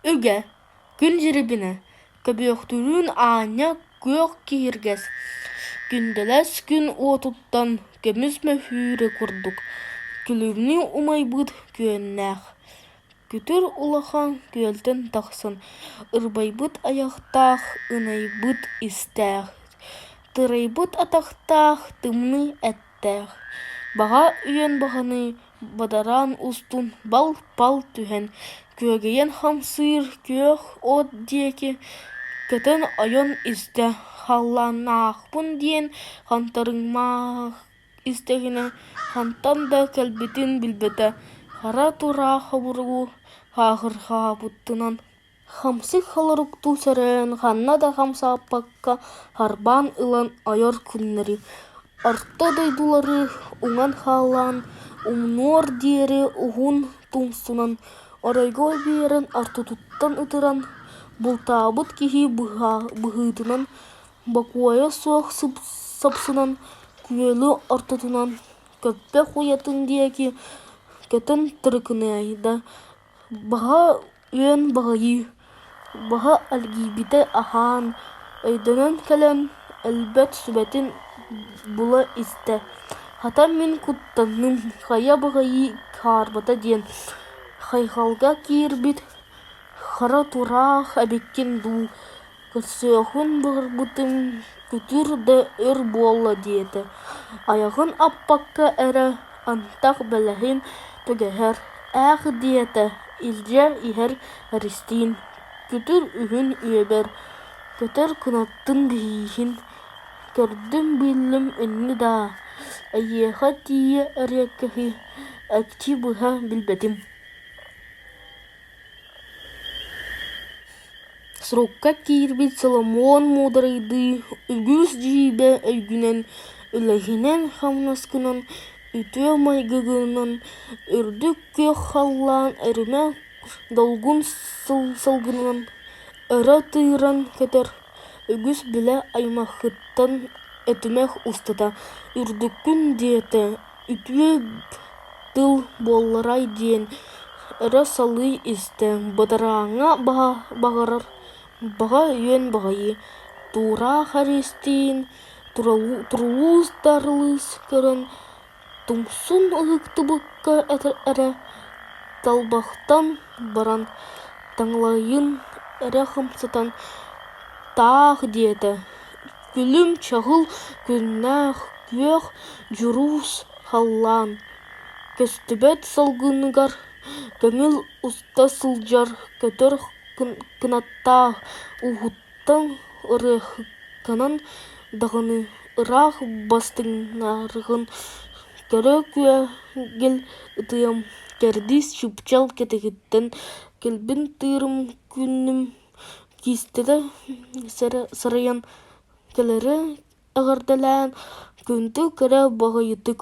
Үгэ, күн дьирибинэ, көбүөхтүүрүн аанньа күөх киһиргэс, күндэлэс күн уотуттан көмүс мөһүүрэ курдук, күлүмнүү умайбыт күөннээх, күтүр улахан күөлтэн тахсан ырбайбыт айахтаах, ынайбыт истээх, тырайбыт атахтаах тымныы эт күүстээх, баҕа үйэн баһыныы бадараан устун бал-пал түһэн күөгэйэн хамсыыр күөх от диэки көтөн ойон истэ, халлааннаахпын диэн хантарыҥмаах истэҕинэ хантан да кэлбитин билбэтэ, хара тураа хобургу хаахырҕаабытынан хамсык холоруктуу сөрөйөн ханна да хамсааппакка харбаан ылан ойор күннэри, орто дойдулары уҥан хааллаан, умнуор диэри уһун тумсунан, оройго биэрэн ортотуттан ытыран, бултаабыт киһи быһыытынан, бокуойа суох сапсынан, күөлү ортотунан көппөх уйатын диэки көтөн тырыкынайда, Баһа үөн баҕайы, баһа эргийбитэ аһаан, өйдөнөн кэлэн, өлбөт сүбэтин була-истэ: «Хата мин куттанным, хайа баҕайы хаарбата» диэн хайҕалга киирбит «Хара тураах эбиккин дуу Көрсүөххүн былыргытын күтүр да өр буолла диэтэ, айаҕын аппакка эрэ антах бэлэһин түгэһэр ээх диэтэ, илдьэ иһэр Эристиин, күтүр үһүн үөбэр, көтөр кынаттын биһииһин, көрдүм-биллим инни даа, эйиэхэ тиийэ эриэккэһи экчи быһа билбэтим Срукка киирбит Соломон муударайдыы үгүс дьиибэ өйгүнэн, үлэһинэн-хамнаскынан, үтүө майгыгынан үрдүк күөх халлаан эримэ долгун сылгынан өрө тыыран көтөр, үгүс билэ аймаххыттан этимэх устата «үрдүккүн» диэтэ Үтүө тыл буолларай диэн эрэ салыы истэ, бадарааҥҥа баҕарар баҕа үөн баҕайы, Туораах Эристиин Турулуус Даарылыс көрөн тумсун ыһыктыбакка эрэ талбахтан баран таҥалайын эрэ хамсатан «таах» диэтэ. Күлүм чаһыл күннээх күөх дьуруус халлаан, көстүбэт салгыныгар көҥүл уста сылдьар көтөр кынаттаах ууһуттан ырыаһыкканан даҕаны ыраах бастыҥнаргын көрө күөгил ытыам, кэрдиис чыпчал кэтититтэн кэлбин тыырым күннүм Кистэтэ сырыйан кэлэри эҕэрдэлээн күндү кэрэ баҕайытык